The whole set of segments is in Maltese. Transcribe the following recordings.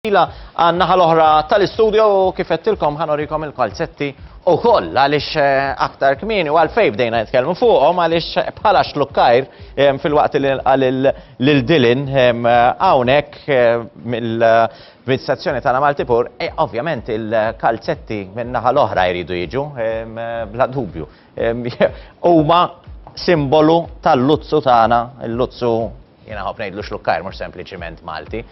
Ila għan-naħa l-oħra tal-istudju u kif qedtilkom ħanorikom il-kalzetti u koll għaliex eh, aktar kmini u għalfej bdejna nitkellmu fuqhom għaliex eh, bħala xlukkajr eh, fil-waqt lil Dilin hawnhekk mill-amministrazzjoni tagħna Maltipur, ovvjament il-kalzetti min-naħa l-oħra jridu jiġu bla dubju. Huma simbolu tal-luzzu tagħna, il-luzzu Jien nħobb ngħidlu xlukkajr mhux sempliċiment Malti,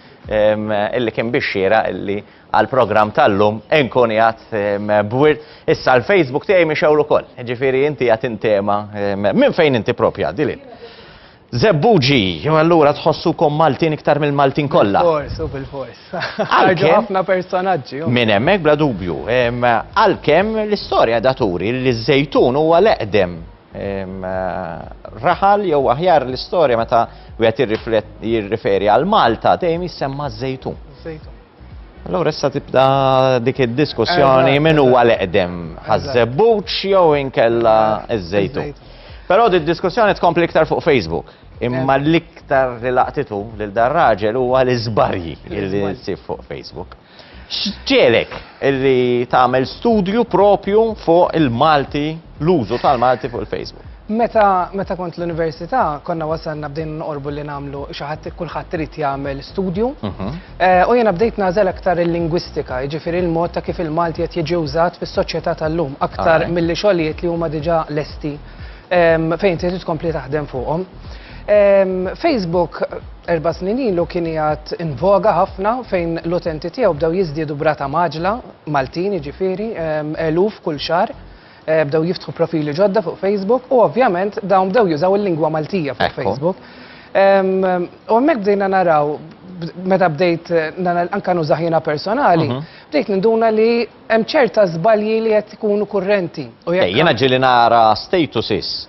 illi kien bix-xieraq illi għall-programm tal-lum inkun qiegħed b'wirt. Issa l-Facebook tiegħi mixewr ukoll, jiġifieri inti qiegħed intema minn fejn inti proprju għaddi lil. Żebbuġi, jew allura tħossukom Maltin iktar mill-Maltin kollha. Bilfors, u bilfors. Għalkemm ħafna personaġġi. Minn hemmhekk bla dubju. Għalkemm l-istorja da turi li ż-żejtun huwa l-eqdem raħal jew aħjar l-istorja meta wieħed jirriferi għal Malta dejjem jissemma żejtun. Żejtun. Allora issa tibda dik id-diskussjoni min huwa l-eqdem ħaż-żebbuċ jew inkella ż-żejtun. Però di diskussjoni tkompli iktar fuq Facebook. Imma l-iktar li laqtitu lil dar raġel huwa l-iżbarji li nsib fuq Facebook. X'ġiegħlek li tagħmel studju proprju fuq il-Malti, l-użu tal-Malti fuq il-Facebook? Meta meta kont l-università konna wasalna bdejna noqorbu li nagħmlu xi ħadd kulħadd irid jagħmel studju. U jiena bdejt nagħżel aktar il-lingwistika, jiġifieri l-mod ta' kif il-Malti qed jiġi wżat fis-soċjetà tal-lum aktar milli xogħlijiet li huma diġà lesti fejn inti trid tkompli taħdem fuqhom. Facebook Erba' snin ilu kien qiegħed in voga ħafna fejn l-utenti tiegħu bdew jiżdiedu b'rata mgħaġġla, Maltin jiġifieri, eluf kull xahar, bdew jiftħu profili ġodda fuq Facebook u ovvjament dawn bdew jużaw il-lingwa Maltija fuq Facebook. U hemmhekk bdejna naraw meta bdejt anke nużah jiena personali, bdejt ninduna li hemm ċerta żbalji li qed ikunu kurrenti. Jiena ġieli nara statuses.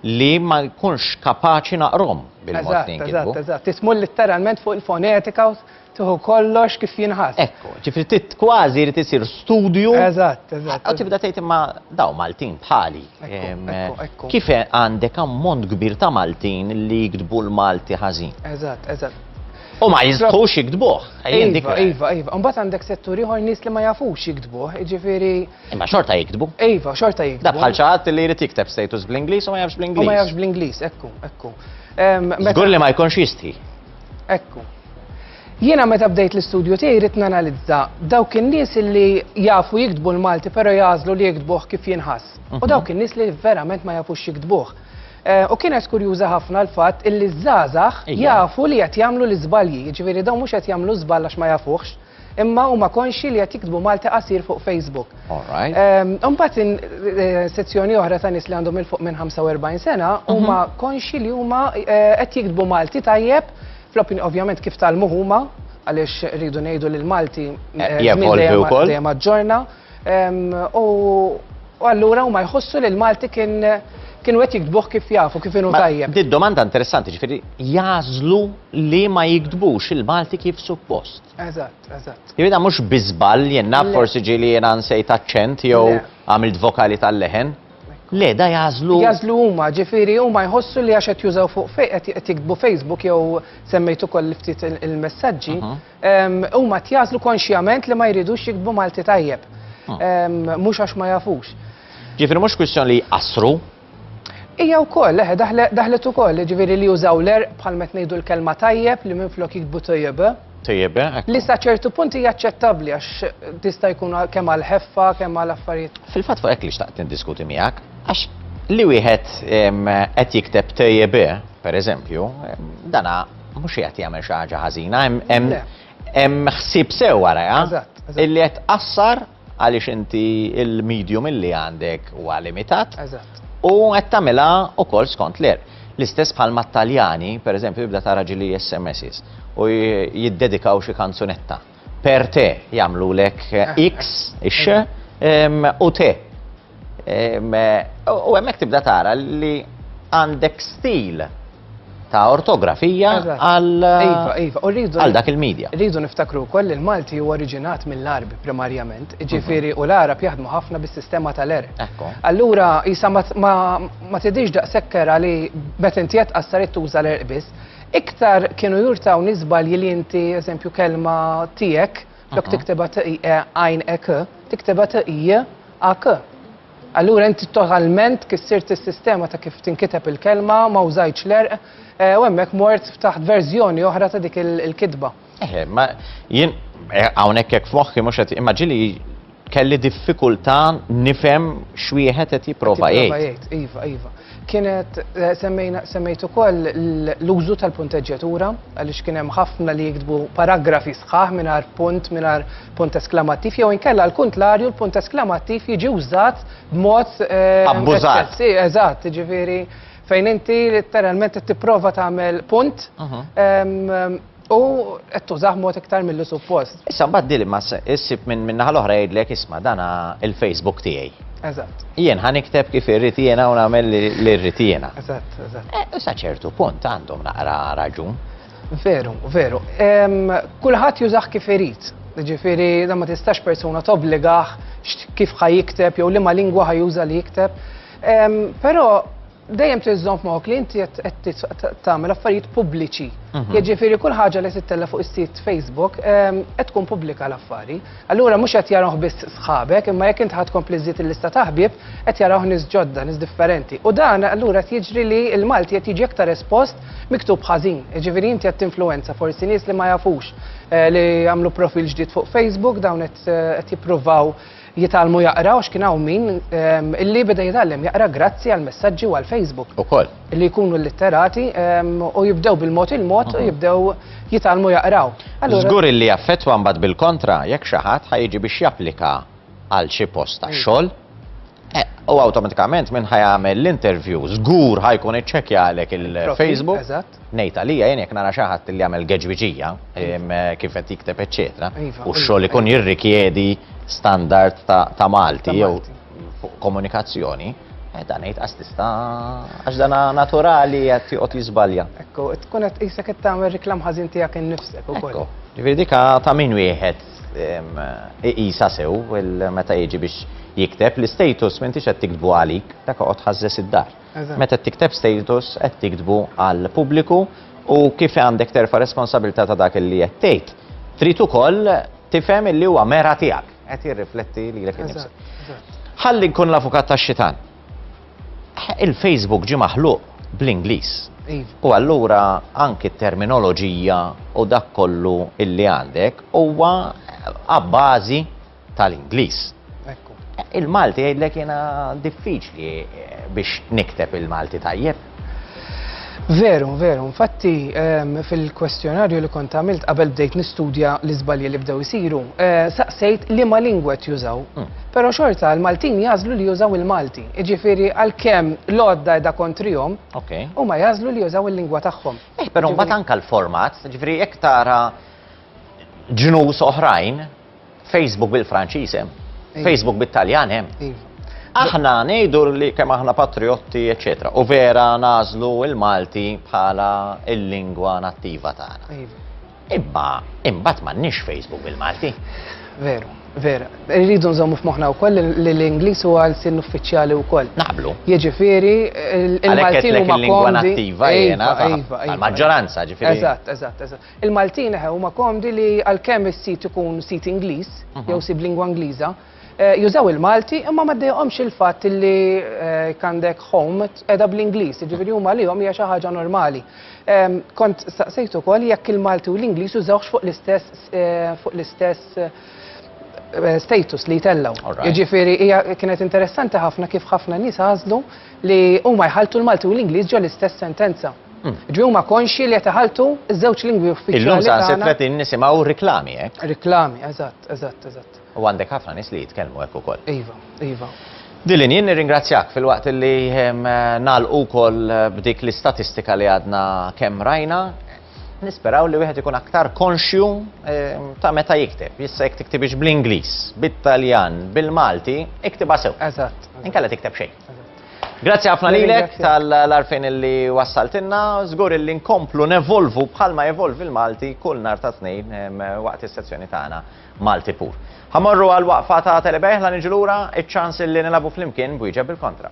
li ma nkunx kapaċi naqrhom bil-mod li jinkitbu. Eżatt, eżatt, eżatt. Tismu litteralment fuq il-fonetika u tieħu kollox kif jinħass. Ekku, ġifri tit kważi jrid isir studju. Eżatt, eżatt. U tibda tgħid imma daw Maltin bħali. Ekku, ekku. Kif għandek ammont kbir ta' Maltin li jiktbu l-Malti ħażin? Eżatt, eżatt. U ma jistħux jiktbuh. Iva, iva, iva. Mbagħad għandek settur ieħor nies li ma jafux jiktbuh, jiġifieri Imma xorta jiktbu. Iva, xorta jiktbu. Da bħal ċaħat li jrid jikteb status bl-Inglis u ma jafx bl-Inglis. U ma jafx bl-Inglis, ekku, ekku. Zgur li ma jkunx jistħi. Ekku. Jiena meta bdejt l-istudju tiegħi rrid nanalizza dawk in-nies li jafu jiktbu l-Malti però jażlu li jiktbuh kif jinħass. U mhm. dawk in-nies li verament ma jafux jiktbuh. Eh, u kienet kurjuża ħafna l-fatt illi żgħażagħ jafu li qed jagħmlu l-iżbalji, jiġifieri dawn mhux qed jagħmlu żball għax ma jafuhx, Imma huma konxi li qed jiktbu Malti qasir fuq Facebook. Imbagħad ehm, eh, sezzjoni oħra ta' nies li għandhom il fuq minn 45 sena mhm. huma konxi li huma eh, qed jiktbu Malti tajjeb fl-opinjoni ovvjament kif tal-muħuma għaliex rridu ngħidu li l-Malti eh, dejjem aġġorna. U allura huma jħossu li l-Malti kien kienu qed jiktbuh kif jafu, kif inhu tajjeb. Di domanda interessanti, ġifieri jażlu li ma jiktbux il-Malti kif suppost. Eżatt, eżatt. Jibda mhux biżball jenna forsi ġieli jena nsejt aċċent jew għamilt vokali tal-leħen. Le, da jażlu. Jażlu huma, ġifieri huma jħossu li għax qed jużaw fuq qed jiktbu Facebook jew semmejtu koll ftit il-messaġġi. Mhm. Huma qed jażlu konxjament li ma jridux jiktbu Malti tajjeb. Ah. Mhux għax ma jafux. Ġifieri mhux kwistjoni li jqassru, Ija u koll, eħe, daħlet u koll, ġviri li jużaw l-er bħal met nejdu l-kelma tajjeb li minn flok jikbu tajjeb. Tajjeb, eh, Li sa ċertu punti jaċċettabli għax tista jkun kemm għal ħeffa, kemm għal affarijiet. Fil-fat fuq ekk li xtaqt diskuti miegħek, għax li wieħed qed jikteb tajjeb, eh, per eżempju, dana Mhux qiegħed jagħmel xi ħaġa ħażina, hemm ħsieb sew warajha. Eżatt. Illi qed tqassar għaliex inti il-medium illi għandek huwa limitat. Eżatt. U qed tagħmilha wkoll skont l-er. L-istess bħal mat-Taljani, pereżempju, jibda tara ġili SMSs u jiddedikaw xi kanzunetta. Per te jagħmlulek X, ix, u te. U hemmhekk tibda tara li għandek stil ta' ortografija għal iva, iva, dak il-medja. Rridu niftakru wkoll li l-Malti huwa oriġinat mill-Arbi primarjament, ġifieri u l-Arab jaħdmu ħafna bis-sistema tal-er. Allura isa ma tidix daqsekker li meta inti qed qassarit tuża l-erq biss, Iktar kienu jurtawni żbalji li inti, eżempju, kelma tiegħek, lok tikteba tiqie għajn ek, tikteba tiqie ak. Allura inti totalment kissirt is-sistema ta' kif tinkiteb il-kelma, ma użajtx l-erq, eh, u hemmhekk mort taħt verżjoni oħra ta' dik il-kitba. Eħe, ma jien eh, hawnhekk hekk f'moħħi mhux qed imma ġili kelli diffikultà nifhem x'wieħed qed jipprova jgħid. Iva, iva. Kienet eh, semmejt ukoll l-użu tal-punteġġjatura għaliex kien hemm ħafna li jiktbu paragrafi sħaħ mingħajr punt mingħajr punt eskamattiv jew inkella l kuntlarju l-punt eskamattiv jiġi użat b'mod eh, abbużat. Eżatt, ġifieri fejn inti letteralment tipprova tagħmel punt mhm. U qed tużah mod iktar milli suppost. Issa mbagħad dili ma issib minn min-naħa l-oħra jgħidlek isma' dana il-Facebook tiegħi. Eżatt. Jien ħa nikteb kif irrid jiena u nagħmel li rrid jiena. Eżatt, eżatt. Eh, u sa ċertu punt għandhom naqra raġun. Veru, veru. Kulħadd jużah kif irid. Ġifieri da ma tistax persuna tobbligaħ kif ħa jikteb jew liema lingwa ħa juża li jikteb. Però Dejjem trid żomm f'moħħok li inti qed tagħmel affarijiet pubbliċi. Mhm. Jiġifieri kull ħaġa li tittella fuq is-sit Facebook ehm, qed tkun pubblika l-affari. Allura mhux qed jarahh biss sħabek, imma jekk inti ħadd tkompli żżid il-lista ta' ħbieb, qed jarahh nies ġodda, nies differenti. U dan allura qed jiġri li l-Malti qed jiġi aktar espost miktub ħażin. Jiġifieri inti qed tinfluwenza forsi nies li ma jafux eh, li għamlu profil ġdid fuq Facebook, dawn qed eh, jippruvaw jitgħallmu jaqraw x'kien hawn min ehm, illi beda jitgħallem jaqra grazzi għal messaġġi u għal Facebook. Ukoll. Li jkunu litterati ehm, u jibdew bil-mod il-mod u mhm. jibdew jitgħallmu jaqraw. Żgur illi jaffettwa mbagħad bil-kontra jekk xi ħadd ħajġi biex japplika għal xi post ta' mm. xogħol eh, u awtomatikament minn ħajamel l-interview żgur ħajkun iċċekja għalek il-Facebook. Ngħid għalija jien jekk nara xi ħadd li jagħmel geġwiġija kif qed jikteb eċċetera, iva, u x-xogħol iva, ikun iva. jirrikjedi standard ta' Malti jew komunikazzjoni, eh, dan ngħid għax tista' għax dan naturali qed joqgħod jiżbalja. Ekku, tkun qed qisek qed tagħmel reklam ħażin tiegħek innifsek ukoll. Ġifieri dika ta' min wieħed iqisa sew meta jiġi biex jikteb l-istatus m'intix qed tiktbu għalik, dak oqgħod ħażżes id-dar. Meta tikteb status qed tiktbu għall-pubbliku u kif għandek terfa' responsabilità ta' dak li qed tgħid, trid ukoll tifhem illi huwa mera tiegħek, qed jirrifletti lilek innifsek. Ħalli nkun l-avukat tax-xitan. Il-Facebook ġie maħluq bl-Ingliż. U allura anki t-terminoloġija u dak kollu illi għandek huwa abbażi tal-Ingliż. Il-Malti jgħidlek jiena diffiċli eh, biex nikteb il-Malti tajjeb. Veru, veru, infatti ehm, fil-kwestjonarju li kont għamilt qabel bdejt nistudja l-iżbalji li bdew isiru, eh, saqsejt li ma lingwet jużaw. Hmm. Pero xorta l-Maltin jazlu li jużaw il-Malti. Iġifiri għal-kem l-odda edha kontrijom, u ma jazlu li jużaw il-lingwa tagħhom. Eh, pero ma tanka l-format, ġifiri jek tara ġnus oħrajn, Facebook bil-Franċiż hemm. Facebook bit-Taljan hemm. Iva. Aħna ngħidu li kemm aħna patriotti, eċetera. U vera nażlu il-Malti bħala il-lingwa nattiva tagħna. Iva. Imma imbagħad m'għandniex Facebook bil-Malti. Veru, vera. Irridu nżommu f'moħħna wkoll li l-Ingliż huwa l-sin uffiċjali wkoll. Naqblu. Jiġifieri il-Maltin huma lingwa nattiva jiena. Iva, iva, iva. Maġġoranza ġifieri. Eżatt, eżatt, eżatt. Il-Maltin eħe huma komdi li għalkemm is-sit ikun sit Ingliż jew sib lingwa Ingliża, eh, jużaw il-Malti imma ma ddejqhomx il-fatt li eh, kandek home qiegħda bl-Ingliż, jiġifieri huma lihom hija xi ħaġa normali. Ehm, kont staqsejt ukoll jekk il-Malti u l-Ingliż jużawx fuq l-istess eh, fuq l-istess status li jtellaw. Jiġifieri hija kienet interessanti ħafna kif ħafna nies għażlu li huma jħalltu l-Malti u l-Ingliż ġo l-istess sentenza. Hmm. Ġi huma konxji li qed iħalltu ż-żewġ lingwi uffiċjali. Illum sa se 30 nisimgħu riklami hekk. Eh? Riklami, eżatt, eżatt, eżatt. U għandek ħafna nies li jitkellmu hekk ukoll. Iva, iva. Dilin, jien nirringrazzjak fil-waqt li ehm, nalqu kol eh, b'dik l-istatistika li għadna kemm rajna, nisperaw li wieħed ikun aktar konxju ehm, ta' meta jikteb. Jissa jek tiktibix bl-Inglis, bit-Taljan, bil-Malti, iktiba sew. Eżatt. Inkella tikteb xejn. Grazzi ħafna lilek tal-arfin li wassaltinna, żgur li nkomplu nevolvu bħalma evolvi l-Malti kull nar ta' tnejn waqt is-sezzjoni tagħna Malti pur. Ħamorru għal waqfa ta' telebejħ la niġu lura iċ-ċans li nilabu flimkien bwieġeb bil-kontra.